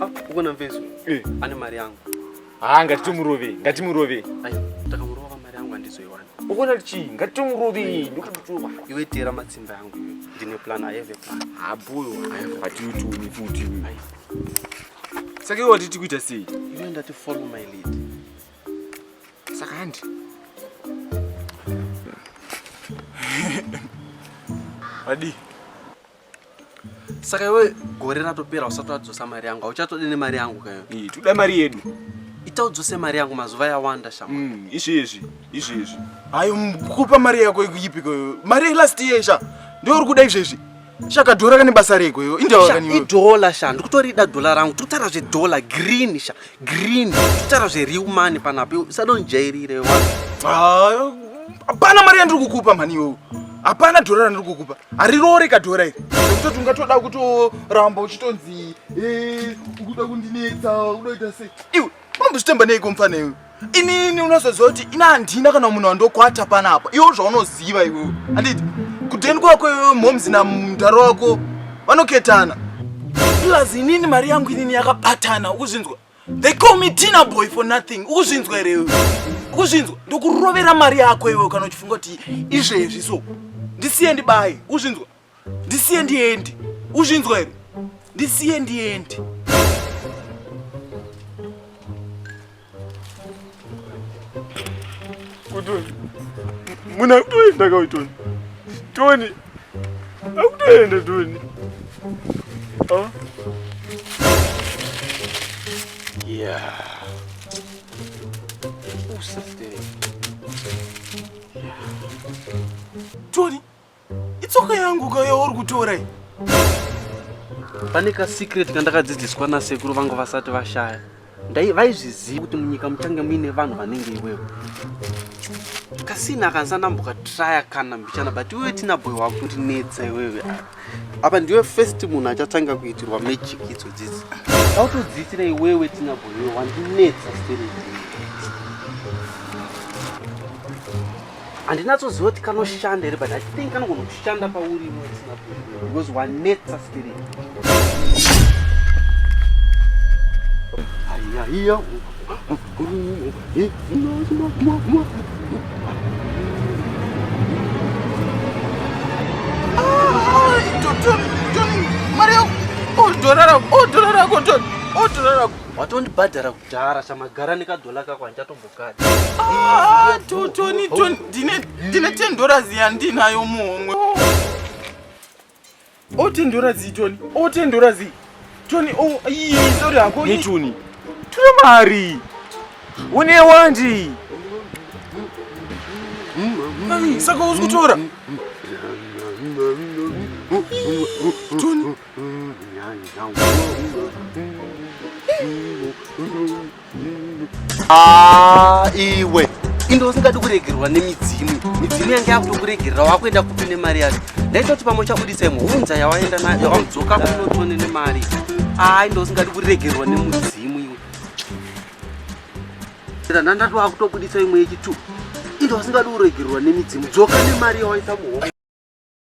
Ah, ukona mvezo eh. ane mari yangu haa ah, ngatitomurove ngatimurove takamurova mari yangu handizoiwana ukona kuti chii ngatitomurove eh. ndokutotova iwe teera matsimba yangu ndine plan ayeve plan habuyo hatiutumi futi saka iwe watiti kuita sei iwe ndati follow my lead saka handi wadii saka iwe gore ratopera usati wadzosa mari yangu auchatode nemari yangu kayo toda mari yedu ita udzose mari yangu mazuva yawanda shama mm, izvezvi izvezvi hayo kupa mari yako ikuyipiko mari yelast year sha ndiwe uri kuda izvezvi shaka dhora kane basa reko iyo indawa kaniwe idhola sha ndikutorida dhola rangu totara zvedhola green sha Green, kutaura zveriu mani panapi usadonjairire wa. Ah, hapana mari yandiri kukupa mhani iwewe. Hapana dhora randiri kukupa. Harirore ka dhora iri. Kutoti ungatoda kutoramba uchitonzi eh ukuda kundinetsa ukuda kuita sei. Iwe unombochitemba neiko mfana iwe. Inini unozoziva kuti ina handina kana munhu wandokwata panapa. Iwe zvaunoziva iwewe. Handiti kudeni kwako iwewe momzi namdhara wako vanoketana plus inini mari yangu inini yakabatana ukuzvinzwa they call me tina boy for nothing ukuzvinzwa here iwe ukuzvinzwa ndokurovera mari yako iwe kana uchifunga kuti izvezvi so ndisiye ndibaye ukuzvinzwa ndisiye ndiendi ukuzvinzwa here ndisiye ndiendi Kutoni. Muna kutoenda ka Toni. Toni. Akutoenda Toni. Oh. Yeah. Usa stay. Yeah. Toni. itsoka yangu ka yauri kutora iyi pane kasecret kandakadzidziswa nasekuru vangu vasati vashaya ndai vaizviziva kuti munyika muchange muine vanhu vanenge iwewo kasina kanzanambuka traya kana mbichana but iwewe tina boy wako kuti netsa iwewe apa ndiwe first munhu achatanga kuitirwa magic idzo dzidzi autodziitira iwewe tina boy iwe wandinetsa sterei handinatsoziva kuti kanoshanda here but i think kanogona kushanda pauri because wanetsa stiri aiaiya watondibhadhara kudhara chamagara nekadhola kako handichatombo Ah, totoni toni ndine tendorazi yandinayo muhomwe otendorazi oh, toni otendorazi oh, toni oh, sori hako toni tuna mari une wandi saka uzi kutora toni Ah, iwe inde usingadi kuregerwa nemidzimu midzimu yange yakutokuregerera wakuenda kupi nemari yacho ndaitoti pamwe uchabudisa imwe hunza yawaenda nayo yawadzoka kunotone nemari aa ah, inde usingadi kuregerwa nemudzimu iwe ndandati wakutobudisa imwe yechitu inde usingadi kuregerwa nemidzimu dzoka nemari yawaita muhombe